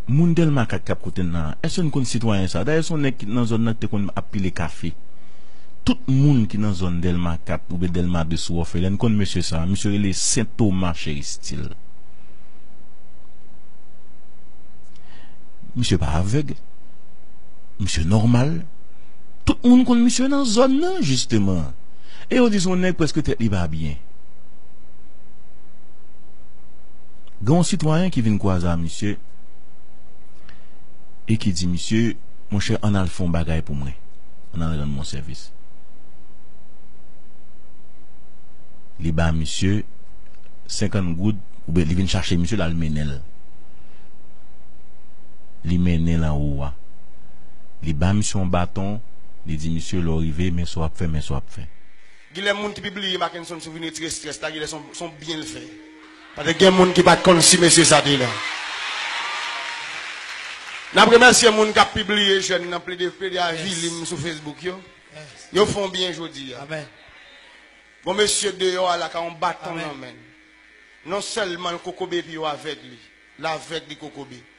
Moun Dèlmakak k ap koute n lan, èske n konn sitwayen sa a? Dayè, se yon nèg ki te nan zòn nan, ki te konn ap pile kafe. Tout moun ki nan zòn Dèlma 4 oubyen Dèlma 2 sou Òfelen konn mesye sa a. Misye rele Sen Toma Cheristil. Misye pa avèg. Misye nòmal. Tout moun konn misye nan zòn nan, jisteman. E yo di se yon nèg prèske tèt li pa byen. Gen yon sitwayen ki vin kwaze a misye e ki di misye, Monchè, ann al fè yon bagay pou mwen. Ann al rann mwen yon sèvis. Li ba misye senkann goud oubyen li vin chache misye l al mennen l. Li mennen l anwo a. Li ba misye yon baton, li di misye, Lè w rive, men sa w ap fè, men sa w ap fè. Genlè moun ki pi bliye Makenson sou vin retire strès la, genlè se yon byen l fè. Patè gen moun ki pat konn si mesye sa te la. Nap remèsye moun kap pibliye jèn nan plede plede avili m sou Facebook yo. Yo fon byen jodia. Bon mesye deyò a la ka yon baton nan men l. Non sèlman l kokobe epi yo avèg li. L avèg li kokobe.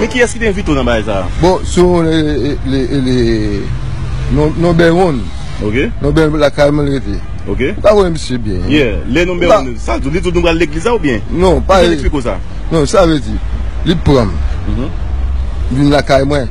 Men kiyès ki te envite w nan bagay sa a? Bon, si w konn e le Nonbè Wonn, Nonbè lakay mwen l rete. Ou ka konnen misye byen. Yeah, le Nonbè Wonn, sa l di w? Li di w nou pral legliz la ou byen? Non, pa. Ki jan l esplike w sa? Non, sa l vle di, li pran m, vin lakay mwen.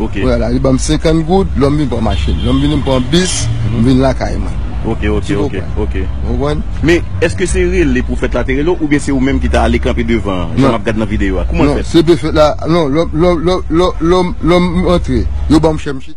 Ok. Kounye a la li banm 50 goud lè m vin pran machin. Lè m vini m pran bis, m vin lakay mwen. Ok, ok, Ti ok, konprann. ok. Ou konprann? Men, èske se rele pwofèt la te rele w oubyen se ou menm ki ta ale kanpe devan an, jan m Non. ap gad nan videyo a? Kouman l Non, fèt? se pwofèt la, non, lè m, lè m, lè m, lè m, lè m antre, yo banm chèmchit.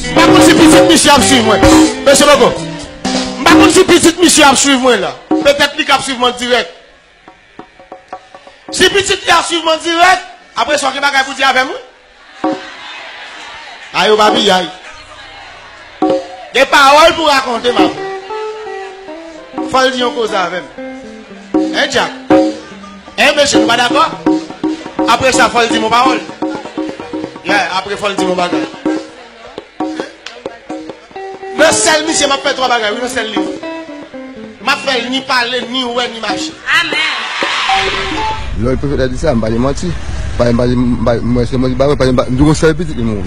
M pa konn si pitit misye ap swiv mwen. Mèsi bokou. M pa konn si pitit misye ap swiv mwen la. Petèt li kab swiv m an dirèk. Si pitit li ap swiv m an dirèk, apre sa w gen bagay pou w di avè m wi. A yo pa piyay. Gen pawòl pou w rakonte m avè m. Fò l di yon koze avè m. Hein Jack? Eeh mesye nou pa dakò? Apre sa fòl dim yon pawòl? Yeah apre fòl dim yon bagay Nan sèl misye map fè 3 bagay wi nan sèl liv Map fèl ni pale ni wè ni mache. Lè pwofèt la di sa, m pa di manti. Paske m pa di, m wè se manti m pa wè. Paske m di yon sèl pitit li mouri.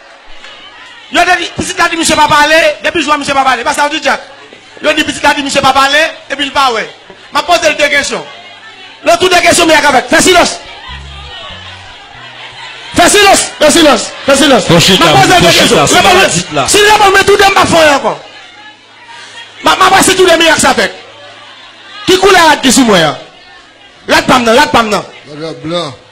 Yo te di, pitit la di misye pa pale, depi jou a misye pa pale. E pa sa yo di Dyak? Yo di pitit la di misye pa pale, epi li pa wè. M ap poze l de kesyon. Le tou de kesyon miyag avèk. Fè silans! Fè silans! Fè silans! Fè silans! M ap poze l de kesyon. Reponn mwen! Si l reponn mwen tou de, m pa p fè anyen ankò. M ap wè si tou de miyag sa fèt. Ki koulè rad ki sou mwen an? Rad pa m nan, rad pa m nan. Rad la blan.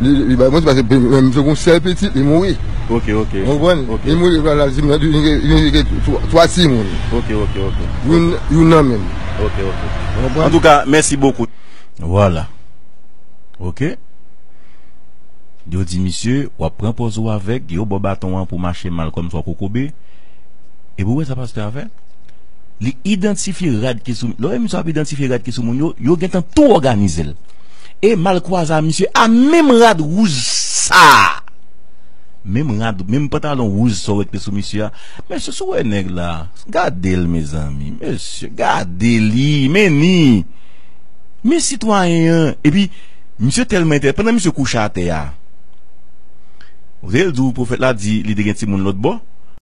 Li bay manti paske menm m te gen yon sèl pitit li mouri. Ok ok. Ou konprann? Ok. Li mouri epi la di m li vin gen 3 timoun. Ok ok ok. Youn youn nan menm. Ok ok. Ou konprann? Antouka mèsi bokou. Vwala. Ok. Yo di misye w ap pran pòz ou avèg, yo ba w baton an pou w mache mal kòmsi w ap kokobe. Epi w wè sa pastè a fè? Li idantifye rad ki sou, lè w wè misye ap idantifye rad ki sou moun yo, yo gentan tou òganize l. E mal kwaze a misye a menm rad wouj sa a. Menm rad, menm pantalon wouj sa w wè ki te sou misye a. Mesye si w wè nèg la, gade l mezanmi, mesye gade li, men ni. Men sitwayen an, epi misye tèlman entèl, pandan misye kouche atè a, w tande l di w pwofèt la di li te gen timoun lòtbò?